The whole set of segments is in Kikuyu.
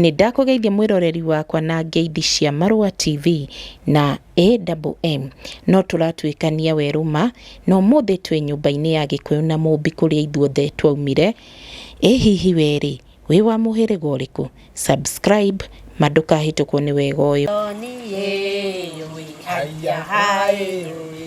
Nĩ ndakũgeithia mwĩroreri wakwa na ngeithi cia Marũa TV na AWM. No tũratuĩkania werũ ma, na ũmũthĩ twĩ nyũmba-inĩ ya Gĩkũyũ na Mũmbi kũrĩa ithuothe twaumire. Ĩ hihi we rĩ, wĩ wa mũhĩrĩga ũrĩkũ? Subscribe ma ndũkahĩtũkwo nĩ wega ũyũ. Ndonire ĩũĩ, haiya haĩ ĩũĩ.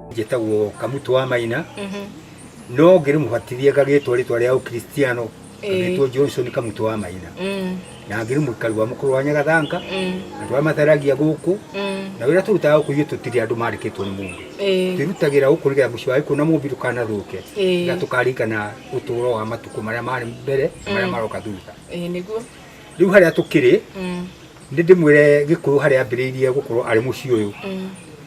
njĩtagwo kamutu wa maina no ngĩrĩmũbatithia ngagĩtwo rĩtwa rĩa ũkristiano ngagĩtwo johnson kamutu wa maina na ngĩrĩ mũikari wa mũkũrũ wa nyagathanga andũ arĩa matharagia gũkũ na wĩra tũrutaga gũkũ ithuĩ tũtirĩ andũ marĩkĩtwo nĩ mũndũ twĩrutagĩra gũkũ nĩgetha mũciĩ wa gĩkũna mũmbi ndũkanathũke na tũkaririkana ũtũũro wa matukũ marĩa marĩ mbere na marĩa maroka thutha rĩu harĩa tũkĩrĩ nĩ ndĩmwĩre gĩkũyũ harĩa ambĩrĩirie gũkorwo arĩ mũciĩ ũyũ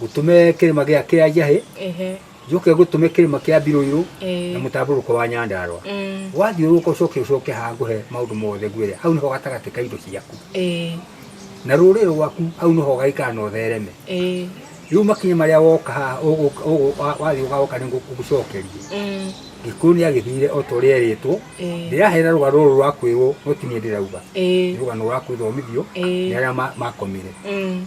Gũtũme kĩrĩma gĩa kĩa njahĩ ehe njoke gũtũme kĩrĩma kĩa mbirũirũ Eh. na mũtambũrũko wa nyandarwa Mm. wathiũrũka ũcoke ũcoke haha ngũhe maũndũ mothe ngwĩre hau nĩho gatagatĩ ka indo ciaku eh na rũrĩrĩ rwaku hau nĩho gaikara na ũthereme eh rĩu makinya marĩa woka haha ũgũ- ũgũ- wa- wathiĩ ũgaoka nĩ ngũgũcokeria mm gĩkũyũ nĩ agĩthire o ta ũrĩa erĩtwo Eh. ndĩrahera rũgano rũrũ rwa kwĩrwo no ti niĩ ndĩrauga eh nĩ rũgano rwa kwĩthomithio Eh. nĩ arĩa ma- makomire mm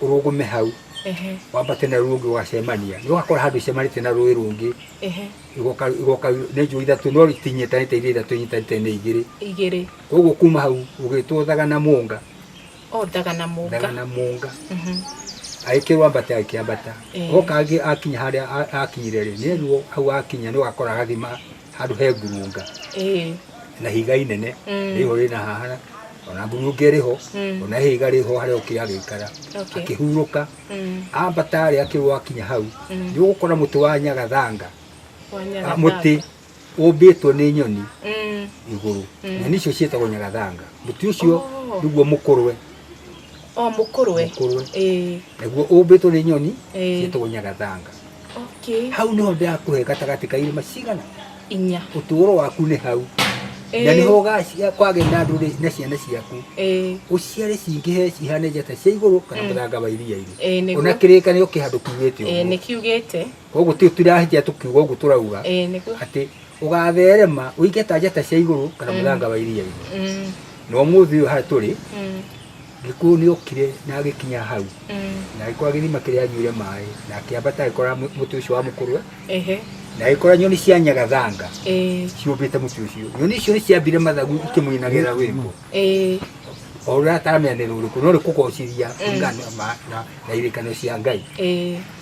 urugume hau ehe wambate na rũĩ rũngĩ ũgacemania nĩ ũgakora handũ icemanĩtie na rũĩ rũngĩ ehe igoka igoka nĩ njũĩ ithatũ no itinyitanĩte iria ithatũ inyitanĩte nĩ igĩrĩ igĩrĩ koguo kuma hau ũgĩtwo thaga na mũnga o thaga na mũnga thaga na mũnga Mhm. agĩkĩrwo ambate agĩkĩambata Eh. oka angĩ akinya harĩa a- akinyire rĩ nĩerirwo hau akinya nĩ ũgakora agathima handũ he ngurunga ĩĩ na higa inene Mm. rĩho rĩna hahana ona ngurunge rĩho Mm. ona hĩga rĩho harĩa ũkĩ agĩikara Okay. akĩhurũka Mm. ambata rĩ akĩrwo akinya hau Mm. nĩ ũgũkora mũtĩ wa nyagathanga Wanyaga ah, mũtĩ thanga. ũmbĩtwo nĩ nyoni Mm. igũrũ Mm. nyoni icio ciĩtagwo nyagathanga mũtĩ ũcio Oh. nĩguo mũkũrwe O mũkũrwe. mũkũrwe Ĩĩ. naguo ũmbĩtwo nĩ nyoni Ĩĩ. ciĩtagwo nyagathanga okay hau niho ndakũhe gatagatĩ ka irĩma cigana inya ũtũũro waku nĩ hau Eh. na nĩho ũgacia- kwagĩa na ndũrĩrĩ na ciana ciaku eh ũciare cingĩhe cihane njata cia igũrũ kana mũthanga wa iria-inĩ Eh, nĩguo. ona kĩrĩkanĩro kĩhandũ kiugĩte eh ũguo nĩkiugĩte koguo ti tũrahĩtia tũkiuga ũguo tũrauga eh nĩguo atĩ ũgatherema ũinge ta njata cia igũrũ kana mũthanga wa iria-inĩ Mm, na ũmũthĩ ũyũ harĩa tũrĩ mm, gĩkuũ nĩ okire na agĩkinya hau mm. na agĩkora gĩthima kĩrĩa anyuire maĩ na akĩambata agĩkora mũ- mũtĩ ũcio wa mũkũrwe Ehe, na agĩkora nyoni cia nyagathanga eh, ciũmbĩte mũtĩ ũcio nyoni icio nĩ ciambire mathagu ikĩmũinagĩra rwĩmbo eh, o ũrĩa ataramenya nĩ rũrĩkũ no rĩkũgocithia kũringana na- na- na irĩkano cia ngai eh.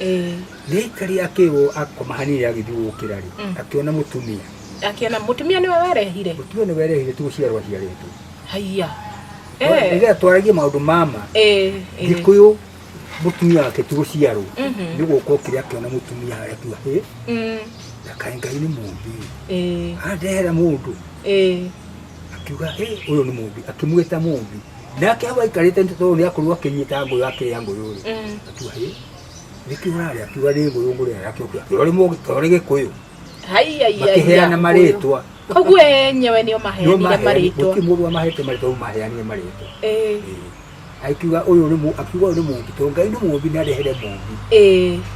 Eh. Gĩikari akĩrwo akoma hanini agĩthiũrũkĩra rĩ Mm. akĩona mũtumia Akiona mũtumia nĩwe warehire. mũtumia nĩ werehire tu gũciarwo aciarĩtwo Haiya. Eh. rĩrĩa twaragia maũndũ mama Eh. eh. gĩkũyũ mũtumia wake tu gũciarwo Mhm. nĩ gũka okire akĩona mũtumia harĩa tu hĩ Mm. ndakaĩ ngai nĩ mũmbi Eh. andehera mũndũ Eh. akiuga "Hĩ, ũyũ nĩ mũmbi akĩmwĩta mũmbi nake hau aikarĩte nĩ tondũ nĩ akorwo akĩnyita ngũyũ akĩrĩa ngũyũ rĩ akiuga hĩ nĩkĩ ũrarĩa akiuga nĩ ngũyũ ngũrĩa yake ũkĩra ũrĩ mũgĩ ta ũrĩ gĩkũyũ makĩheana marĩtwa koguo enyewe nĩo maheanire marĩtwa gũtirĩ mũndũ wamahete marĩtwa rĩu maheanire marĩtwa Ĩĩ. akiuga ũyũ nĩ mũ- akiuga ũyũ nĩ mũmbi tondũ ngai nĩ mũmbi nĩ arehere mũmbi Ĩĩ.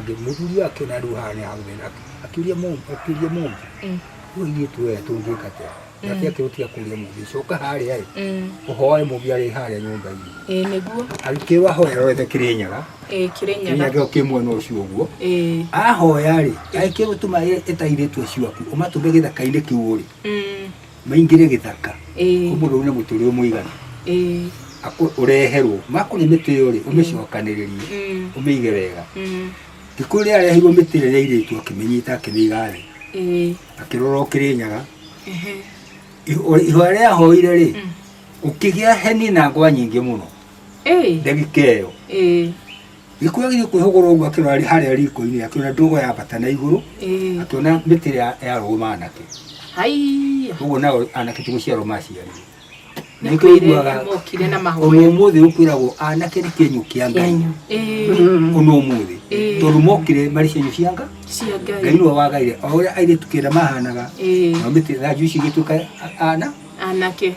Angĩ mũthuri akĩna rĩu haha nĩ hau thĩna akĩũria mũmbi akĩũria mũmbi rĩu ithuĩ tuoya tũngĩka atĩa nake akĩrũtiga kũria mũmbi coka harĩa ĩ ũhoe mũmbi arĩ harĩa nyũmba-inĩ ĩĩ nĩguo agĩkĩrwo ahoya rwethe kĩrĩnyaga ĩĩ kĩrĩnyaga kĩrĩnyaga kĩ mwena ũcio ũguo ĩĩ ahoya rĩ agĩkĩrwo tũma ĩtairĩtu acio aku ũmatũme gĩthaka-inĩ kĩu ũrĩ Mm. maingĩre gĩthaka ĩĩ kũmũndũ ũyũ nĩ mũtũrĩ mũigana ĩĩ akũ- ũreherwo makũrĩ mĩtĩ ĩyo rĩ ũmĩcokanĩrĩrie mm, ũmĩige wega mm, thikũ ĩrĩa areheirwo mĩtĩ ĩrĩa ya irĩtu akĩmĩnyita akĩmĩiga thĩ ĩĩ akĩrora ũkĩrĩnyaga ehe, Ihũ- ihũa rĩa hoire rĩ mm, ũkĩgĩa heni na ngwa nyingĩ mũno ĩĩ ndagĩka ĩyo ĩĩ Gĩkuũ gĩgĩ kwĩhũgũra ũguo akĩrora arĩ harĩa riko-inĩ akĩona ndogo ya bata na igũrũ Ĩĩ. akĩona mĩtĩ ĩrĩa ya rogo ma anake Haiya. ũguo nao anake ti gũciarwo maciarire na nĩkĩo Mokire- iguaga mokire na ona mahoya. ũmũthĩ ũkwĩragwo anake nĩ kĩenyũ kĩa ngai Kĩenyũ. Ĩĩ. ona ũmũthĩ Ĩĩ. tondũ mokire marĩ cienyũ cia nga Cia ngai Ngai. nĩwe wagaire o ũrĩa airĩtu kĩrĩa mahanaga Ĩĩ. nao mĩtĩ thanju ici igĩtuĩka a- ana Anake.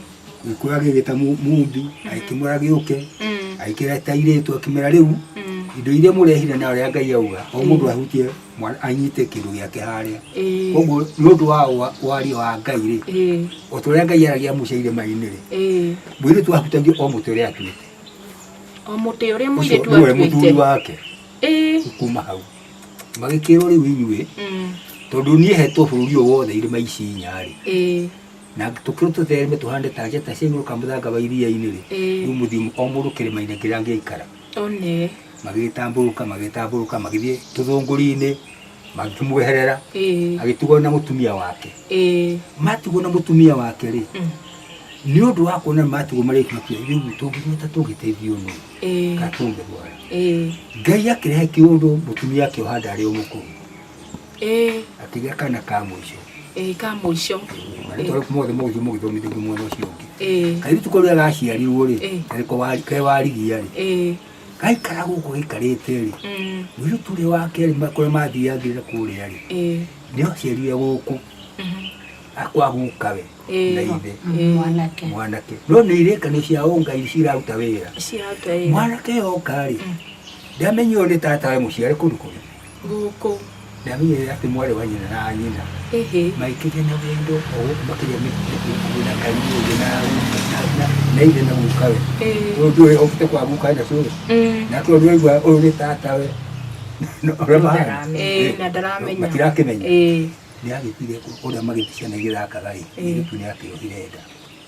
gĩkũyũ agĩgĩta mu- mumbi agĩkĩmwĩra gĩũke Mm. agĩkĩra ta irĩtu akĩmera rĩu Mm. indo iria mũrehire na ũrĩa ngai auga o mũndũ ahutie mwana- anyite kĩndũ gĩake harĩa Ĩĩ. koguo nĩ ũndũ wa wa- waria wa ngai rĩ Ĩĩ. o ta ũrĩa ngai aragia musa irĩma-inĩ rĩ Ĩĩ. mũirĩtu ahutagia o mũtĩ ũrĩa atuĩte o mũtĩ ũrĩa ũcio mũirĩtu nĩwe mũthuri atuĩte wake Ĩĩ. kuma hau magĩkĩrwo rĩu inyuĩ Mm. tondũ niĩ hetwo bũrũri ũyũ wothe irĩma ici inya rĩ Ĩĩ. na tũkĩrũ tũthereme tũhande ta njata cia igũrũ kamũthanga wa iria-inĩ rĩ Ĩĩ. rĩu mũthiĩ o mũndũ kĩrĩma-inĩ kĩrĩa angĩikara one magĩtambũrũka magĩtambũrũka magĩthiĩ tũthũngũri-inĩ magĩkĩmweherera ĩĩ agĩtigwo na mũtumia wake ĩĩ matigwo na mũtumia wake rĩ Mm. nĩ ũndũ wa kuona matigwo marĩkĩtie rĩu tũngĩgĩta tũgĩteithio nũ ĩĩ kana tũngĩrwara ĩĩ ngai akĩrehe kĩũndũ mũtumia akĩoha ndarĩ o mũkũrũ Eh. Akĩgĩa kana ka mũico. Eh, ka mũico. Marĩtwa rĩu mothe mũgĩthiĩ mũgĩthomithĩrio mwena ũcio ũngĩ. Eh. Kairĩtu kau rĩrĩa gaciarirwo rĩ, Eh. karĩko wari- ke warigia rĩ, Eh. gaikara gũkũ gaikarĩte rĩ, Mm. mũirĩtu ũrĩa wa kerĩ ma- kũrĩa mathiathire kũrĩa rĩ, Eh. nĩho aciarire gũkũ Mhm. akwa guka we Eh. na ithe Eh. mwanake mwanake no nĩ irĩkanio cia ũngai ciraruta wĩra Cirauta wĩra. mwanake yoka rĩ ndamenywo nĩ tata we mũciare kũndũ kũngĩ gũkũ. Na niĩ atĩ mwarĩ wa nyina na nyina Ĩhĩ. maikĩria na wendo o gũkũ makĩria mĩkuĩ na kariũngĩ na na na ithe na guka we Ĩĩ. ũyũ ndũĩ okĩte kwa guka na cũrũ Mm. na tondũ ũraigua ũyũ nĩ tata we na ũrĩa mahana Ĩĩ, na ndaramenya. matirakĩmenya Ĩĩ. nä agä tire å rä a magä ticana igä thakaga rä Ĩĩ. nä gä tu nä akä ohire nda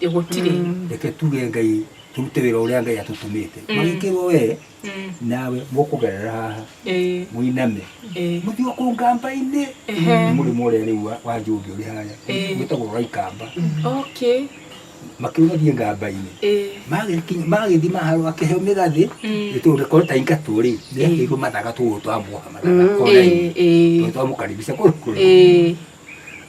Ĩ, gũtirĩ reke tuge ngai tũrute wĩra ũrĩa ngai atũtũmĩte magĩkĩrwo we Mm. nawe mũkũgerera haha Ĩ, mũiname ĩ, mũthiĩ kũu ngamba-inĩ Ehe. nĩ mũrĩmo ũrĩa rĩu wa- wa njũngĩ ũrĩ harĩa Eh. wĩtagwo wa ikamba okay makĩũgathiĩ ngamba-inĩ Ĩ, Magĩkinya- magĩthiĩ maharũ akĩheo mĩgathĩ Mm. gĩtũrĩ korwo ta ingatũ rĩ nĩakĩirwo mathaga tũgũ twa muoha mathaga ĩ, ĩ, twa mũkaribisha kũrũkũrũ ĩ,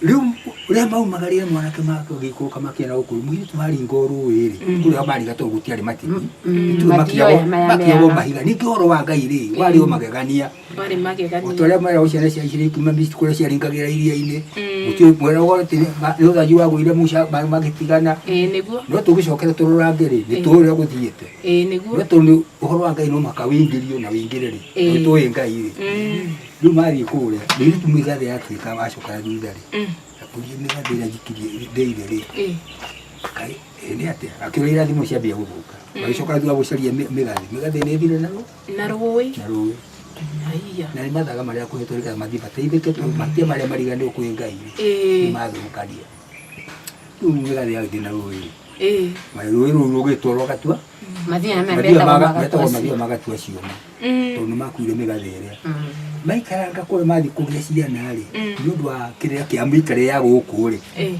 rĩu rĩa maumagarire mwanake make ũgĩikũrũka makĩenda gũkũrũ mũirĩtu haringa o rũĩ-rĩ kũrĩa mariga tondũ gũtiarĩ matigĩ Ithuĩ Matioe makiagwo- maya makiagwo meaga. mahiga ningĩ ũhoro wa ngai rĩ warĩ o magegania Warĩ o magegania. ta ũrĩa mera ciana cia Isiraeli kuma Misiri kũrĩa ciaringagĩra iria-inĩ gũtiũĩ kwera ũgorete nĩ ũthanju wagũire Musa maĩ magĩtigana Ĩĩ nĩguo. no tũgĩcokere tũrorange rĩ nĩ tũĩ ũrĩa gũthiĩte Ĩĩ nĩguo. no tondũ ũhoro wa ngai no mũhaka wĩingĩrio na wĩingĩre rĩ Ĩĩ. tondũ tũĩ ngai rĩ Mm. rä u mathiä kå rä a rä tu mä igathä yatuä ka wacoka thutha rä akårie mä gathä ä rä a njikirie ndeire rä Eh. Kai, eh, nĩ atĩa akĩrwo irathimo ciambia gũthũka magĩcoka thutha gũcaria mĩ- mĩgathĩ mĩgathĩ nĩ thire na rũ- na rũĩ na rũĩ Aiya. na nĩ mathaga marĩa akũhetwo nĩgetha mathiĩ mateithĩke tondũ matia marĩa mariganĩrwo kwĩ ngai Eh. nĩmathũkania rĩu mĩgathĩ yagĩthiĩ na rũĩ Eh. rũĩ rũu rũgĩtwarwo gatua Mathia nĩ mathiaga metagwo maga- metagwo magatwa mathiaga magatua ciũma Mm. tondũ nĩ makuire mĩgathĩ ĩrĩa Mm. maikaranga kũrĩa mathiĩ kũrĩa ciana rĩ Mm. nĩ ũndũ wa kĩrĩa kĩa mĩikare ya gũkũ rĩ Eh.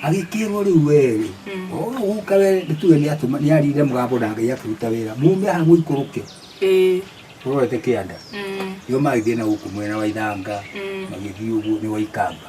agĩkĩrwo rĩu werĩ Mm. ũka we nĩtuge nĩ atũma nĩ arire mũgambo na ngai akĩruta wĩra mume aha mũikũrũke Eh. ũrorete kĩanda Mm. nĩo magĩthiĩ na gũkũ mwena wa ithanga Mm. magĩthiĩ ũguo nĩ waikamba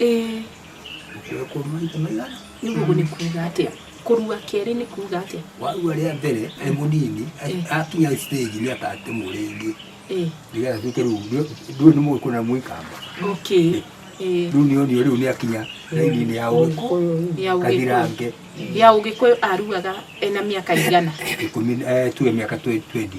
Ĩĩ. Gũkua kwa maita maigana? Nĩ guo nĩ kuuga atĩa? Kũrua kerĩ nĩ kuuga atĩa? Warua rĩa mbere e mũnini, akinya stage nĩ akatemwo rĩngĩ. Ĩĩ. Nĩgetha atuĩke rĩu ndũĩ nĩ mũgĩkũyũ na nĩ mũikamba. Okay. Ĩĩ. Rĩu nĩ onio rĩu nĩ akinya raini-inĩ ya ũgĩkũyũ. Ya ũgĩkũyũ. Gathirange. Ya ũgĩkũyũ aruaga ena mĩaka ĩigana? Ikũmi, tuge mĩaka twenty.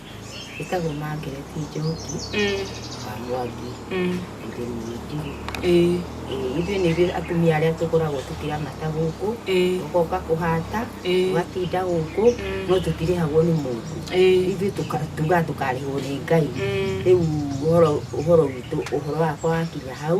ĩtagwo Margaret Njoki wa Mwangi mũthuri wĩ Njirũ. Ithuĩ nĩ ithuĩ atumia arĩa tũkoragwo tũkĩramata gũkũ, ũgoka kũhata, ũgatinda gũkũ, no tũtirĩhagwo nĩ mũndũ. Ithuĩ tugaga tũkarĩhwo nĩ Ngai. Rĩu ũhoro witũ ũhoro wakwa wakinya hau.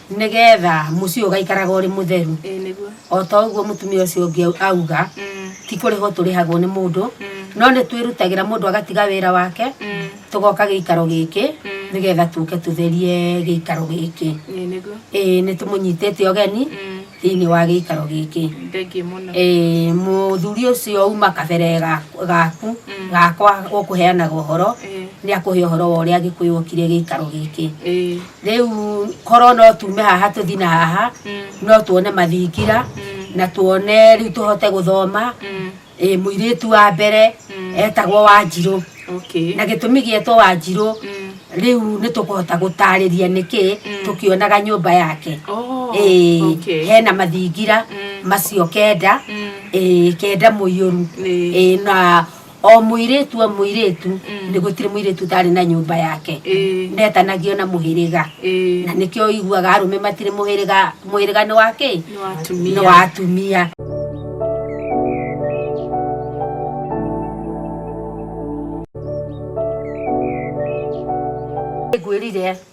nĩgetha mũciĩ ũgaikaraga ũrĩ mũtheru ĩĩ nĩguo o ta ũguo mũtumia ũcio ũngĩ au- auga Mm, ti kũrĩhwo tũrĩhagwo nĩ mũndũ mm, no nĩ twĩrutagĩra mũndũ agatiga wĩra wake mm, tũgoka gĩikaro gĩkĩ Mm. nĩgetha tũke tũtherie gĩikaro gĩkĩ ĩĩ nĩguo ĩĩ nĩ tũmũnyitĩte ũgeni Mm, thĩinĩ wa gĩikaro gĩkĩ thengiĩ mũno Ĩĩ, mũthuri ũcio uma kabere ga- gaku Mm. gakwa ũkũheanaga ũhoro Ĩĩ, nĩ akũhe ũhoro wa ũrĩa gĩkũyũ okire gĩikaro gĩkĩ ĩĩ rĩu korwo no tume haha tũthi na haha no tuone mathingira na tuone rĩu tũhote gũthoma ĩ mũirĩtu wa mbere etagwo wanjirũ Okay. na gĩtũmi gĩetwo wanjirũ rĩu nĩ tũkũhota gũtarĩria nĩkĩ tũkĩonaga nyũmba yake Oh, Ĩĩ, okay. hena mathingira macio kenda Ĩĩ, kenda mũiyũru Ĩĩ. Ĩĩ, na o mũirĩtu o mũirĩtu Mm. nĩ gũtirĩ mũirĩtu ũtarĩ na nyũmba yake Ĩĩ. ndetanagio na mũhĩrĩga Ĩĩ. na nĩkĩo iguaga arũme matirĩ mũhĩrĩga mũhĩrĩga nĩ wa kĩ Nĩ wa atumia. nĩ wa atumia ngwĩrire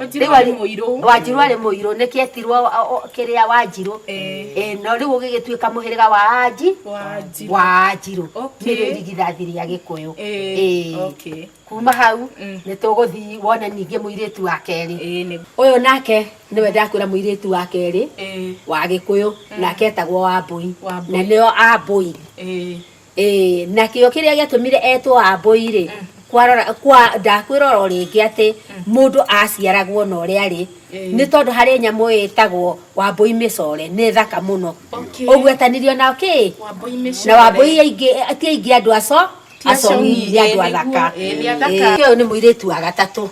Wanjiru Rĩu arĩ arĩ- mũirũ. wanjiru arĩ mũirũ nĩkĩ etirwo o- o- kĩrĩa wanjiru Eh. Eh, no rĩu ũgĩgĩtuĩka mũhĩrĩga wa anji Wanjiru. wa anjiru Okay. nĩrĩo irigithathi rĩa gĩkũyũ Eh, Eh. okay. kuma hau Mm. nĩ tũgũthiĩ wone ningĩ mũirĩtu wa kerĩ Eh, nĩ- ũyũ nake nĩwe ndakwĩra mũirĩtu wa kerĩ eh, wa gĩkũyũ nake etagwo wambũi Wambũi. na nĩo ambũi eh. Ĩĩ, nakĩo kĩrĩa gĩatũmire etwo Wambũi-rĩ, kwarora kwa ndakwĩrora o rĩngĩ atĩ mũndũ aciaragwo na ũrĩa arĩ nĩ tondũ harĩ nyamũ ĩtagwo Wambũi mĩcore nĩ thaka mũno Okay. ũgwetanirio na kĩ Wambũi na mĩcore. Wambũi aingĩ ti aingĩ andũ aco Ti aco acongi, nĩ andũ ĩĩ, athaka nĩguo, ĩĩ, nĩ athaka. Ĩĩ, ũyũ nĩ mũirĩtu wa gatatũ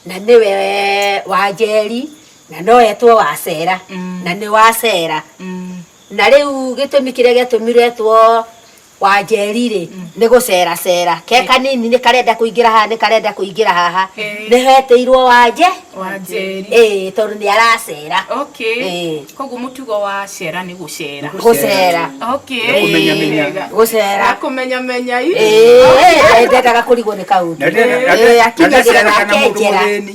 na nĩwe wa njeri na no etwo wacera na nĩ wacera Na rĩu gĩtũmi kĩrĩa gĩatũmire two Wanjeri-rĩ, nĩ gũceracera. Ke kanini nĩ karenda kũingĩra haha, nĩ karenda kũingĩra haha. Nĩ hetĩirwo Wanje, ĩĩ, tondũ nĩ aracera. Ĩĩ. Koguo mũtugo wa cera nĩ gũcera. Gũcera. Okay. Nĩ kũmenyamenya. Wega. Gũcera. Na kũmenyamenya i. Ĩĩ, ndendaga kũrigwo nĩ kaũndũ. Na ndendaga- Ĩĩ, akinyagĩra na Ndendaga nake kana mũndũ njĩra. mũthĩni.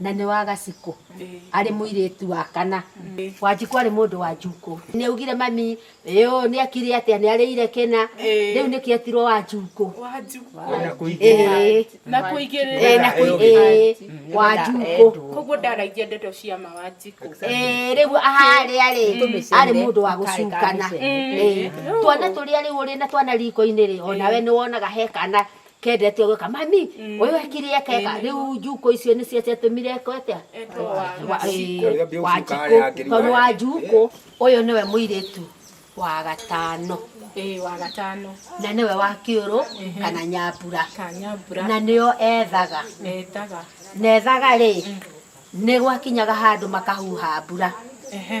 na nĩ wa gacikũ arĩ mũirĩtu wa kana wanjikũ arĩ mũndũ wa njukũ nĩ augire mami ĩũ nĩ akire atĩa nĩ arĩire kĩna rĩu nĩkĩ etirwo wa njukũ na kũigĩrĩra na kũigĩrĩra wa njukũ koguo ndaragia ndeto cia ma wa njikũ rĩu harĩa rĩ arĩ mũndũ wa gũcukana twana tũrĩa rĩu ũrĩ na twana riko-inĩ rĩ onawe nĩ wonaga he kana Kendete ũguo ka mami ũyũ ekire eka eka rĩu njukũ icio nĩcio ciatũmire eka ũtia wanjikũ tondũ wa njukũ ũyũ nĩwe mũirĩtu wa gatano Ĩĩ wa gatano na nĩwe wa kĩũrũ kana nyambura ka nyambura na nĩo ethaga etaga na ethaga rĩ nĩ gwakinyaga handũ makahuha mbura ehe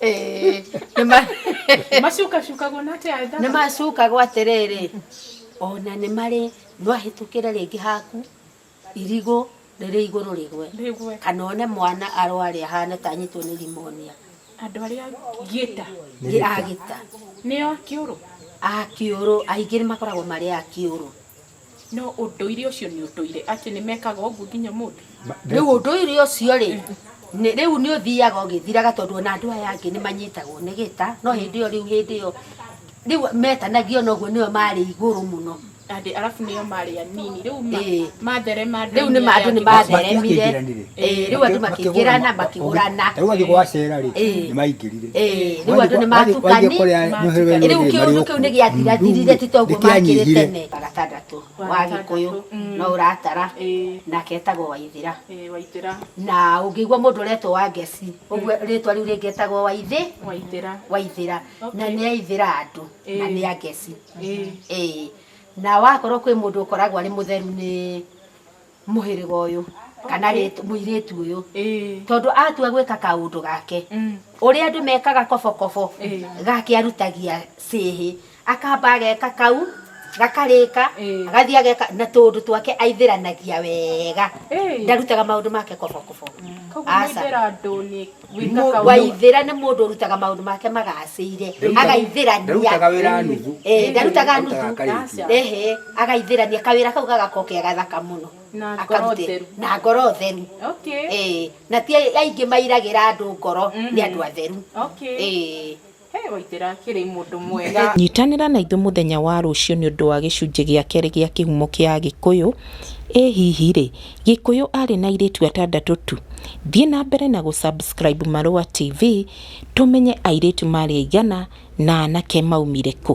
Eh, nĩ ma- macukacukagwo na atĩa nĩ ndaba macukagwo atĩrĩrĩ ona nĩ marĩ no ahĩtũkĩre rĩngĩ haku irigũ rĩrĩ igũrũ rĩgwe rĩgwe kana one mwana arware ahane ta anyitwo nĩ rimonia andũ arĩa ngĩta nĩ agĩta nĩo akĩũrũ akĩũrũ aingĩ nĩ makoragwo marĩ akĩũrũ No ũndũire ũcio nĩ ũndũire atĩ nĩ mekaga ũguo nginya ũmũthĩ? Rĩu ũndũire ũcio-rĩ, rĩu nĩ ũthiaga ũgĩthiraga tondũ ona andũ aya angĩ nĩ manyitagwo nĩ gĩta, no hĩndĩ ĩyo rĩu hĩndĩ ĩyo rĩu metanagio na ũguo nĩo marĩ igũrũ mũno. Andĩ arabu nĩo marĩ anini. Rĩu matherema andũ-inĩ arĩa angĩ. Rĩu andũ nĩ matheremire. Eh, rĩu andũ makĩingĩrana makĩgũrana rĩu athiĩ gwacera rĩ eh. nĩ maingĩrire eh, rĩu andũ nĩ matukani rĩu kĩũndũ kĩu nĩ gĩathirathirire ti toguo makĩrĩ tene gatagatũ wa gĩkũyũ mm. no ũratara nake etagwo waithĩra na ũngĩigua mũndũ ũretwo wa ngeci ũguo mm. rĩtwa rĩu rĩngĩ etagwo waithĩ waithĩra na nĩ aithĩra andũ na nĩ a ngeci na wakorwo kwĩ mũndũ ũkoragwo arĩ mũtheru nĩ mũhĩrĩga ũyũ kana Okay. rĩt- mũirĩtu ũyũ Ĩĩ. tondũ atua gwĩka kaũndũ gake Mm. ũrĩa andũ mekaga kobokobo Ĩĩ. gake arutagia cĩhĩ akamba ageka kau gakarĩka Ĩĩ. agathiĩ ageka na tũũndũ twake aithĩranagia wega Ĩĩ. ndarutaga maũndũ make kobokobo Koguo Aca. mũithĩra ndũnĩ waithĩra nĩ mũndũ ũrutaga maũndũ make magacĩire agaithĩrania Ndarutaga wĩra nuthu. Eh, ndarutaga nuthu Arutaga karĩkia. ehe agaithĩrania kawĩra kau gagakorwo ke gathaka mũno Na ngoro Akarute. theru. na ngoro theru Okay. Eh, na ti aingĩ mairagĩra andũ ngoro nĩ andũ atheru Okay. Eh, Hĩ! Waitĩra akĩrĩ mũndũ mwega. Nyitanĩra na ithuĩ mũthenya wa rũciũ nĩ ũndũ wa gĩcunjĩ gĩa kerĩ gĩa kĩhumo kĩa Agĩkũyũ. Ĩ hihi-rĩ, Gĩkũyũ arĩ na airĩtu atandatũ tu? Thiĩ na mbere na gũ subscribe Marũa TV tũmenye airĩtu maarĩ aigana na anake maumire kũ.